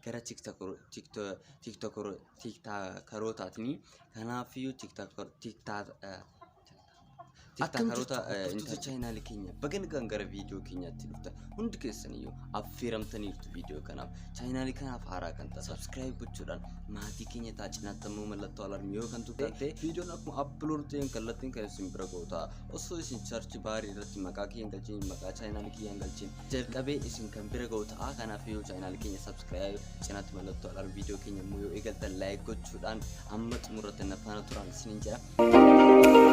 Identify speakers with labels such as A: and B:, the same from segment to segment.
A: gara tiktaakarootaatni kanaafiyyuu tiktaakaroota intarneetii chaayinaali keenya baga nagaan gara viidiyoo keenyaatti dhufta hundi keessaniyyuu affeeramtaniirtu viidiyoo kanaaf chaayinaali kanaaf haaraa kan ta'a sabskiraayib gochuudhaan maatii keenya taa cinaatti ammoo mallattoo alarmii yoo kan tuqan ta'e viidiyoon akkuma appilood ta'een kallattiin kan isin bira ga'u ta'a osoo isin charchi baarii irratti maqaa kiyyan galchiin maqaa chaayinaali kiyyan galchiin jalqabe isin kan bira ga'u ta'a kanaaf yoo chaayinaal keenya sabskiraayib cinaatti mallattoo alarm viidiyoo keenya immoo yoo eegaltan laayik gochuudhaan amma xumurratti na faana turaan isinin jedha.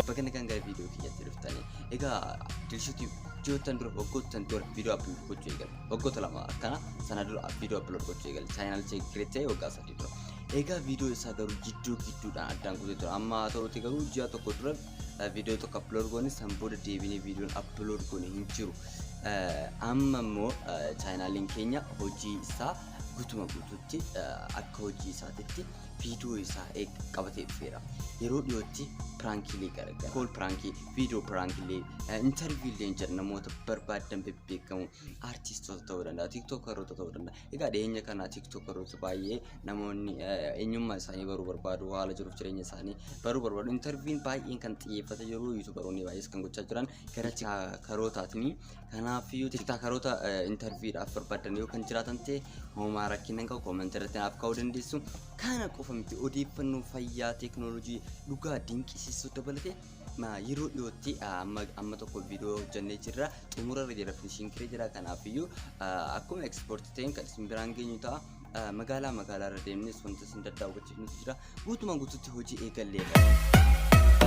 A: Bakka nagaan gara viidiyoo keenyatti dhuftanii egaa dilshuutii ji'oottan dura waggoottan dura viidiyoo appilood gochuu eegale waggoota lama akkana sana dura viidiyoo appilood gochuu eegale chaayinaal cheekireettee waggaa sana tura egaa viidiyoo isaa garuu jidduu gidduudhaan addaan kutee tura amma haa ta'uti garuu ji'a tokko dura viidiyoo tokko aplood goone san booda deebinee viidiyoon aplood goone hin jiru amma immoo chaayinaaliin keenya hojii isaa gutuma guututti akka hojii isaatitti viidiyoo isaa qabatee dhufeera yeroo dhiyootti piraankiilee garagara kool piraankii viidiyoo piraankiilee intarviilee jedha namoota barbaadan bebbeekamu aartistoota ta'uu danda'a tiiktookaroota ta'uu danda'a Egaa dhiyeenya kana TikTok irratti baay'ee namoonni eenyummaa isaanii baruu barbaadu haala jiruuf jireenya isaanii baruu barbaadu intarviin baay'een kan xiyyeeffate jiru yuutubaroonni baay'ees kan gochaa jiran gara tiktakarootaatni kanaaf iyyuu tiktakaroota intarviidhaaf barbaadan yoo kan jiraatan ta'e homaa rakkina qabu koomantii irratti naaf kaa'uu dandeessu kana qofa miti odeeffannoo fayyaa teeknooloojii dhugaa dinqisiisuu dabalatee ma yeroo dhiyootti ah, amma amma tokko viidiyoo hojjannee jirra xumura irra jira finishiin kiree jira kanaafiyyuu ah, akkuma ekspoorti ta'een kan isin biraan geenyu ta'a Ah, magaalaa magaalaa irra deemnes wanta isin daddaawwachiifnutu jira guutumaan guututti hojii eegalleedha.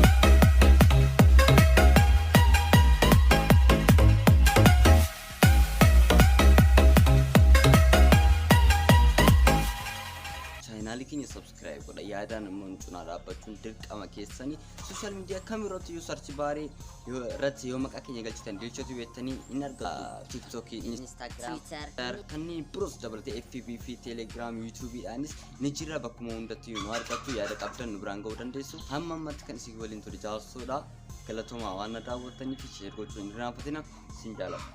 A: chaayinaalii keenya subscribe subscribe godha yaadaan immoo nu cinaa dhaabbachuun dirqama keessanii social media kam irratti iyyuu search baarii yoo- irratti yoo maqaa keenya galchitan dilchatu beektanii hin argatu tiktok Instagram, Twitter. kanneen biroos dabalatee fb fi telegram youtube dhaanis ni jira bakkuma hundatti nu argattu yaada qabdan nu biraan ga'uu dandeessu hamma ammatti kan isin waliin ture jaarsoodha galatoomaa waan na daawwattaniif sheer gochuun hin irraanfatina sin jaalladha